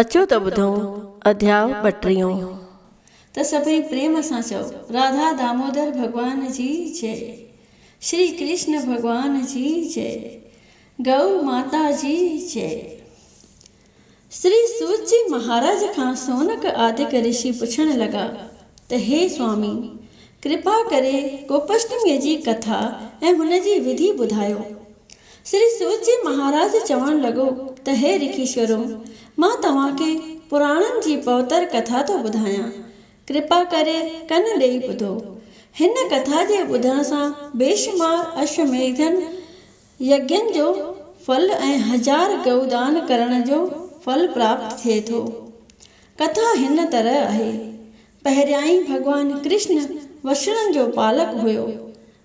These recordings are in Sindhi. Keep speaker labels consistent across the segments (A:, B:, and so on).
A: اچو ته ٻڌون اڌياء ٻٽيهون. ته
B: سڀئي پريم سان چئو. راڌا دامودر ڀڳوان جي جئ شري ڪرشن ڀڳوان جي جئ گئو ماتا جي جئ. شري سوت جي مهاراج کان سونڪ آدڪ رشي پڇڻ لڳا ته هي سوامي ڪرپا ڪري گوپشٽميء جي ڪٿا ۽ هن جي وڌي ٻڌايو. شري سوت جي مهاراج چوڻ لڳو ته هي رکيشورو، مان توهان کي پراڻن جي پوتر ڪٿا ٿو ٻڌايان. ڪرپا ڪري ڪن ڏيئي ٻڌو. هن ڪٿا جي ٻڌڻ سان بيشمار اشوميڌن يگين جو ڦل ۽ هزار گئو دان ڪرڻ جو ڦل پراپت ٿئي ٿو. ڪٿا هن طرح آهي، پهريائين ڀڳوان ڪرشن وشڻن جو پالڪ هيو.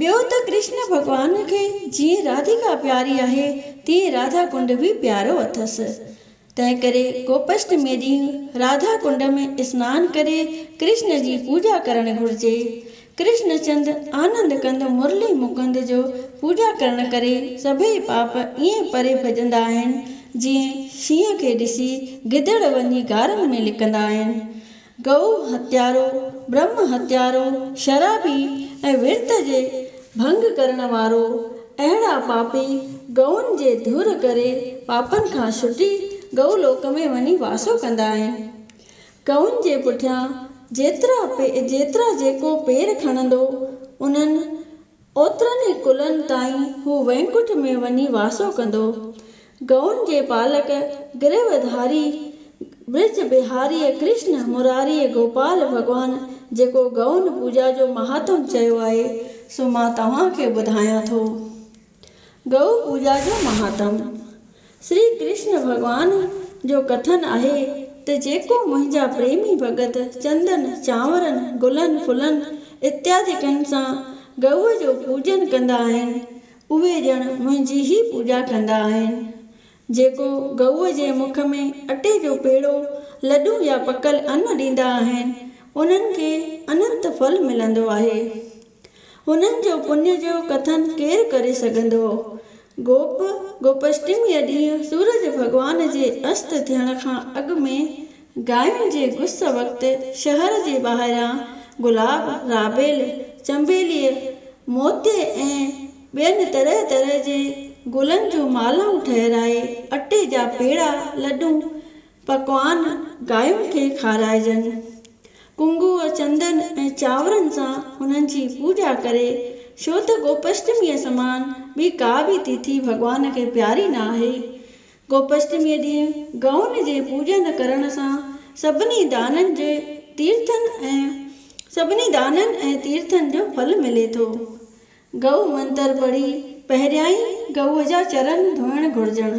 B: ٻيو ته ڪرشن ڀڳوان کي جيئن راڌيڪا پياري آهي تيئن راڌا ڪنڊ به پيارو اٿس. تنهن ڪري گوپشٽمي ڏينهن راڌا ڪنڊ ۾ اسنان ڪري ڪرشن جي پوڄا ڪرڻ گهرجي. ڪرشن چند آنند ڪند مرلي مڪند جو پوڄا ڪرڻ ڪري سڀئي پاپ ائين پري ڀڄندا آهن جيئن شينهن کي ڏسي گدڙ وڃي غارن ۾ لڪندا آهن. گئو هتيارو، برهمه هتيارو، شرابي ۽ ورت جي ڀنگ ڪرڻ وارو، اهڙا پاپي گئون جي ڌر ڪري پاپن کان ڇٽي گئو لوڪ ۾ وڃي واسو ڪندا آهن. گئون جي پٺيان جيترا جيڪو پير کڻندو انهن اوترن ئي ڪلن تائين هو وينڪٺ ۾ وڃي واسو ڪندو. گئون جي پالڪ گريوڌاري، برج بهاريء ڪرشن مراريء گوپال ڀڳوان جيڪو گئون پوڄا جو مهاتم چيو آهي، سو مان توهان کي ٻڌايان ٿو. گئو پوڄا جو مهاتم. شري ڪرشن ڀڳوان جو ڪٿن آهي ته جيڪو منهنجا پريمي ڀڳت چندن، چانورن، گلن، ڦلن اتيادڪن سان گئوء جو پوڄن ڪندا آهن، اهي ڄڻ منهنجي ئي پوڄا ڪندا آهن. جيڪو گئوء جي مک ۾ اٽي جو پيڙو، لڏون يا پڪل ان ڏيندا آهن، انهن کي اننت ڦل ملندو آهي. هنن جو پڃ جو ڪٿن ڪير ڪري سگهندو؟ گوپ، گوپشٽميء ڏينهن سورج ڀڳوان جي است ٿيڻ کان اڳ ۾ گاين جي گس وقت شهر جي ٻاهران گلاب، رابيل، چنبيليء، موتيء ۽ ٻين طرح طرح جي گلن جون مالائون ٺهرائي اٽي جا پيڙا، لڏون، پڪوان گاين کي کارائجن. ڪنگوء، چندن ۽ چانورن سان هنن جي پوڄا ڪري، ڇو ته گوپشٽميء سمان ٻي ڪا به تيٿي ڀڳوان کي پياري نه آهي. گوپشٽميء ڏينهن گئون جي پوڄن ڪرڻ سان سڀني دانن جي تيرٿن ۽ سڀني دانن ۽ تيرٿن جو ڦل ملي ٿو. گئو منتر پڙهي پهريائين گئوء جا چرن ڌوئڻ گهرجن.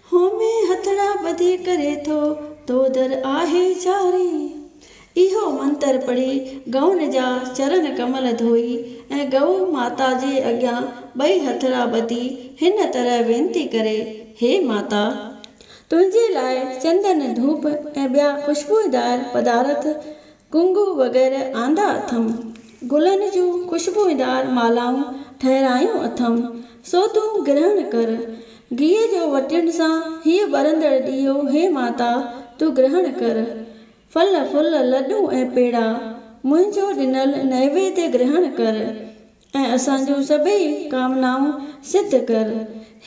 B: هو مين هٿڙا ٻڌي ڪري ٿو، تو در آهي جاري. اهو منتر پڙهي ڳئن جا چرن ڪمل ڌوئي ۽ ڳئو ماتا جي اڳيان ٻئي هٿڙا ٻڌي هن طرح وينتي ڪري، هي ماتا! تنهنجي لاء چندن، ڌوپ ۽ ٻيا خوشبوء دار پدارٿ ڪنگهو وغيره آندا اٿم. گلن جون خوشبوئيندار مالائون ٺهرايون اٿم، سو تون گرهڻ ڪر. گيهه جو وٽين سان هيء ٻرندڙ ڏيئو، هي ماتا! تون گرهڻ ڪر. ڦل، ڦل، لڏون ۽ پيڙا، منهنجو ڏنل نيويد گرهڻ ڪر. ۽ اسان جون سڀئي ڪامنائون سڌ ڪر.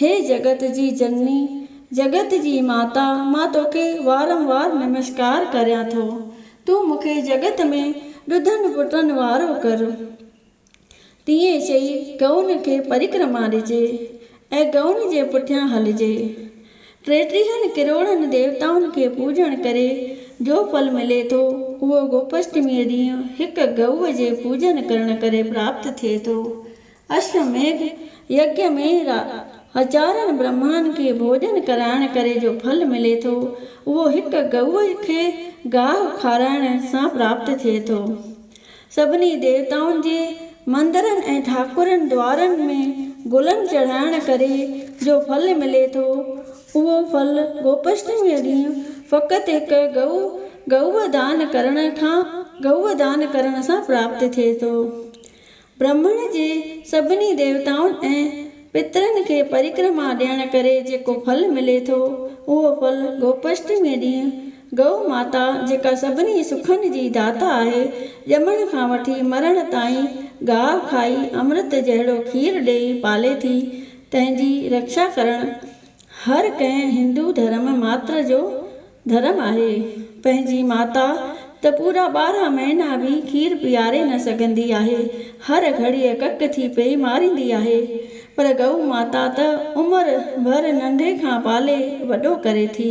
B: هي جڳت جي جنني، جڳت جي ماتا مان توکي وارم وار نمسڪار ڪريان ٿو. تون مون کي جڳت ۾ ڏڌن پٽن وارو ڪر. تيئن چئي ڪئون کي پرڪرما ڏجي. اي گئون جي پٺيان هلجي. ٽيٽيهن ڪروڙن ديوتائن کي پوڄڻ ڪري جو ڦل ملي ٿو، اهو گوپشٽميء ڏينهن هڪ گئوء جي پوڄن ڪرڻ ڪري پراپت ٿئي ٿو. اشو ميگھ يگيء ۾ را هزارن برهمائن کي ڀوڄن ڪرائڻ ڪري جو ڦل ملي ٿو، اهو هڪ گئوء کي گاهه کارائڻ سان پراپت ٿئي ٿو. سڀني ديوتائن جي مندرن ۽ ٺاڪرن دوارن ۾ گلن چڙهائڻ ڪري جو ڦل ملي ٿو، اهو ڦل گوپشٽميء ڏينهن فقط هڪ گئو، گئوء دان ڪرڻ کان، گئوء دان ڪرڻ سان پراپت ٿئي ٿو. برهمڻ جي سڀني ديوتائن ۽ پترن کي پريڪرما ڏيڻ ڪري جيڪو ڦل ملي ٿو، اهو ڦل گوپشٽميء ڏينهن ڳئو ماتا جيڪا سڀني سکن جي داتا آهي، ڄمڻ کان وٺي مرڻ تائين گاء کائي امرت جهڙو کير ڏيئي پالي ٿي، تنهن جي رڪشا ڪرڻ هر ڪنهن هندو ڌرم ماتر جو ڌرم آهي. پنهنجي ماتا ته پورا ٻارهن مهينا به کير پياري نه سگهندي آهي، هر گهڙيء ڪڪ ٿي پئي ماريندي آهي، پر ڳئو ماتا ته عمر ڀر ننڍي کان پالي وڏو ڪري ٿي.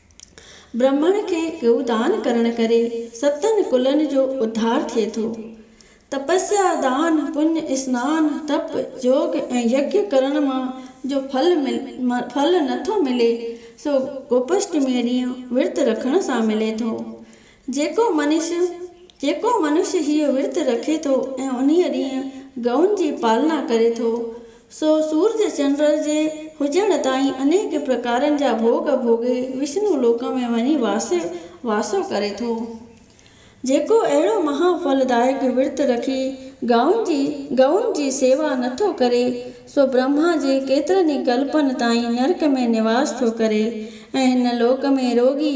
B: برهمڻ کي گئو دان ڪرڻ ڪري ستن ڪلن جو اڌار ٿئي ٿو. تپسيا، دان، پڃ، اسنان، تپ، يوگ ۽ يگيا ڪرڻ مان جو ڦل ڦل نٿو ملي سو گوپشٽميء ڏينهن ورت رکڻ سان ملي ٿو. جيڪو منش، جيڪو منش هيء ورت رکي ٿو ۽ انهيء ڏينهن ڳئون جي پالنا ڪري ٿو، سو سورج چنڊ جي هجڻ تائين انيڪ پرڪارن جا ڀوڳ ڀوڳي وشنو لوڪ ۾ وڃي واس واسو ڪري ٿو. جيڪو اهڙو مها ڦل دائڪ ورت رکي ڳئون جي، ڳئون جي سيوا نه ٿو ڪري، سو برهما جي ڪيترن ئي ڪلپن تائين نرڪ ۾ نواس ٿو ڪري ۽ هن لوڪ ۾ روڳي،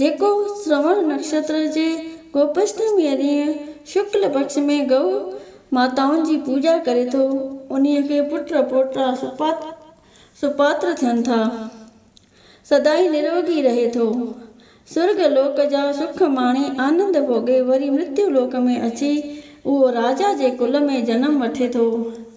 B: جيڪو سروڻ نڪشتر جي گوپشٽميء ڏينهن شڪل پڪش ۾ گئو ماتائن جي پوڄا ڪري ٿو، انهيء کي پٽ پوٽا سپاتر ٿين ٿا. سدائين نروگي رهي ٿو. سرڳ لوڪ جا سک ماڻي آنند ڀوڳي وري مرتيو لوڪ ۾ اچي اهو راجا جي ڪل ۾ جنم وٺي ٿو.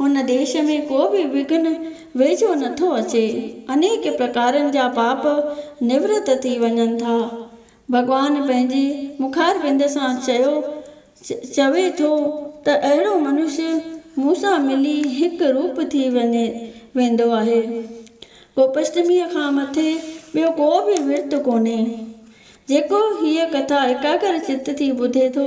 B: هن ديش ۾ ڪو به وگهن ويجهو نه ٿو اچي. انيڪ پرڪارن جا پاپ نورت ٿي وڃن ٿا. ڀڳوان پنهنجي مخاربند سان چيو چوي ٿو ته اهڙو منش مون سان ملي هڪ روپ ٿي وڃي ويندو آهي. گوپشٽميء کان مٿي ٻيو ڪو به ورت ڪونهي. جيڪو هيء ڪٿا ايڪاگر چت ٿي ٻڌي ٿو،